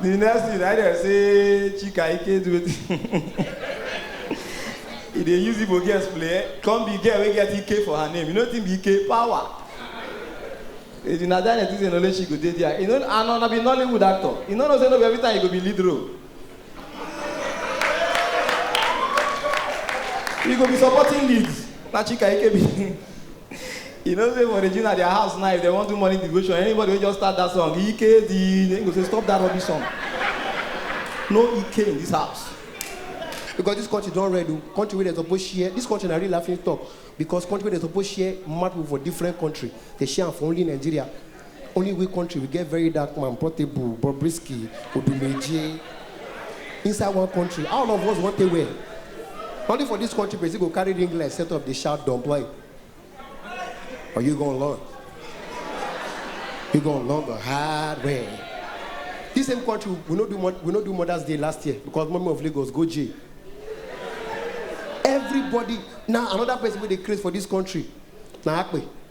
the next thing na dem say chika ike do e dey use igbo girls play come be girl wey get ike for her name you know wetin be ike power if na that next thing only she go dey there you know and una be nollywood actor you no know say no be every time you go be lead role you go be supporting lead na chika ike be. you know say for regina their house now if they wan do morning devotion anybody wey just start that song ike di dem go say stop that rubbish song no ike in this house because this country don red o country wey dem suppose share this country na real laughing stock because country wey dem suppose share mad people for different country dey share am for only nigeria Only we country we get very dark man, Portable, Bobrisky, Odumeje. Inside one country, all of us want to wear. Only for this country, Brazil go carry ring light, set up the shout, don't play. Are you gonna learn? You gonna learn the hard way. This same country, we no do we no do Mother's Day last year because Mommy of Lagos go jail. Everybody now another person wey dey craze for this country na Akpe.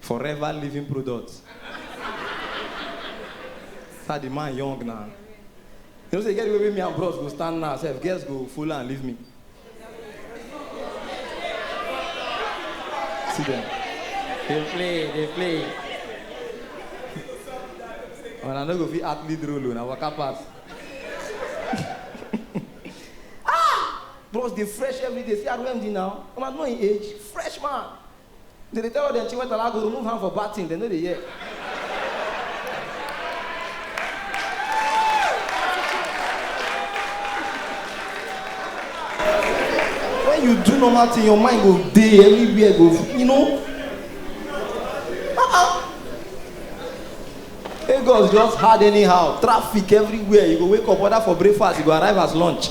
Forever living product. Sir, the man young now. You know, say, get the way me and bros go stand now, self, girls go follow and leave me. See them. They play, they play. When I no go fit act lead role, na waka pass. ah! Bros, they fresh every day. See, I do MD now. I'm at my age, fresh man. Dem dey tell all dem chiwetala go remove hand for bad thing, dem no dey hear. When you do normal thing, your mind go dey everywhere go, you know. Uh-uh. Lagos just hard anyhow, traffic everywhere, you go wake up, order for breakfast, you go arrive as lunch.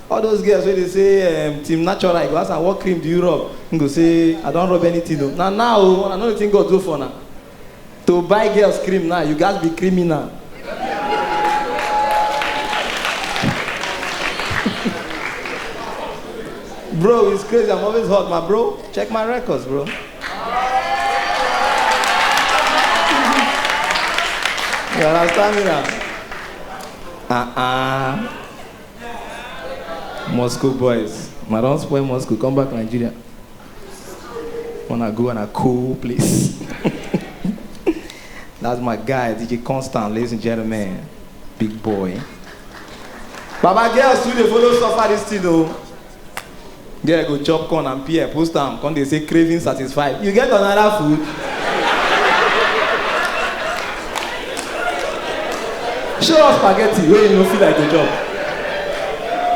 All those girls wey dey say um, team natural, you go ask am what cream do you rub? He go say I don rub anything o. Na now o, una know wetin God do for una. To buy girls cream now, you gats be criminal. bro, it's crazy, I'm always hot, my bro. Check my records, bro. You understand me now? Uh-uh. Moscow boys. I don't spoil Moscow, come back Nigeria. Wanna go on a cool place. That's my guy, DJ Constant, ladies and gentlemen. Big boy. Baba girls too dey follow suffer this thing o. Girl go chop corn and pear, post am, come dey say craving satisfied. You get another food? Show us spaghetti wey you no feel like to chop.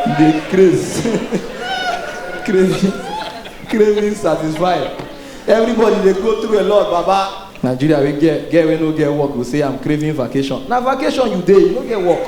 You dey craze. craving, craving satisfied. Everybody dey go through a lot, baba. Nigeria wey get girl wey no get work go say I'm craving vacation. Na vacation you dey, you no get work.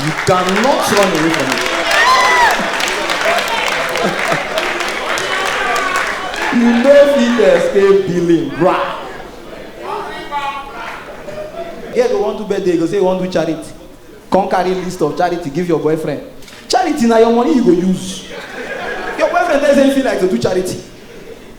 You cannot run away from it. you no fit escape billing bra. Here go wan do birthday, you go say you wan do charity. Come carry list of charity give your boyfriend. Charity na your money you go use. Your boyfriend tell you say you fit like to do charity.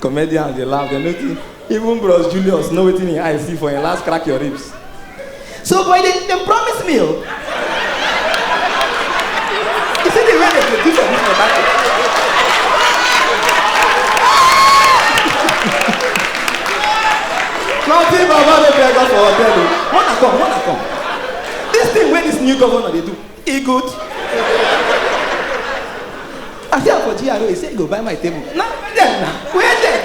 comedians dey laugh dem no think even bros julius know wetin him eye see for him last crack your ribs. so boy dem dem promise me o oh. you see the way dem dey do for this water thing. nothing baba no beg us for hotel o oh. wanna come wanna come this thing wey this new governor dey do. e good i see am for GRA he say he go buy my table na where dem na where dem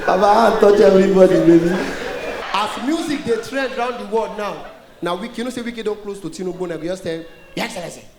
na baba hand touch everybody baby. as music dey trend round the world now na wiki you know say wiki don close to tinubu na go just tell him your excellency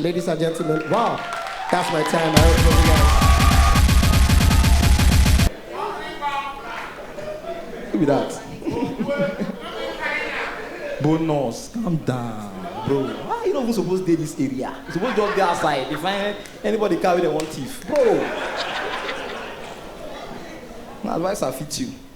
Ladies and gentlemen, wow, that's my time. I hope you guys. Who be that? Bonus, calm down, bro. Why you not even supposed to dey this area? You suppose just dey outside. If I, anybody carry them one thief, bro. My advice I fit you.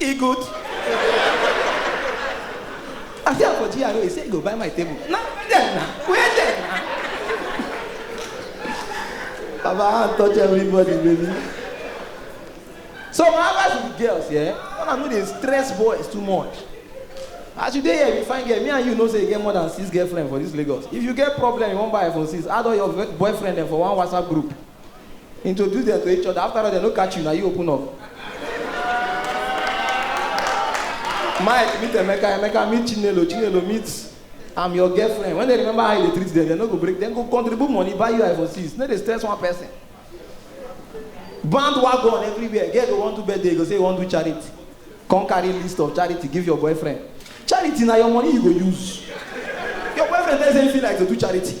E good. I see am for GRA, he say he go buy my table. Na where dem na? Where dem na? Baba, I wan touch everybody, baby. So my advice to the girls, yeah, una no dey stress boys too much. As you dey here, you find girl, me and you know say you get more than six girlfriend for this Lagos. If you get problem, you wan buy iPhone 6, add all your ve- boyfriend dem for one WhatsApp group. Introduce dem to each other after all dem no catch you na you open up. Mike meet Emeka, Emeka meet Chinelo, Chinelo meet I'm your girlfriend. When they remember how you dey treat them, they no go break, dem go contribute money buy you iPhone 6. No dey stress one person. Bandwagon everywhere. Girl go wan do birthday, you go say you wan do charity. Come carry list of charity give your boyfriend. Charity na your money you go use. Your boyfriend tell you say he feel like to do charity.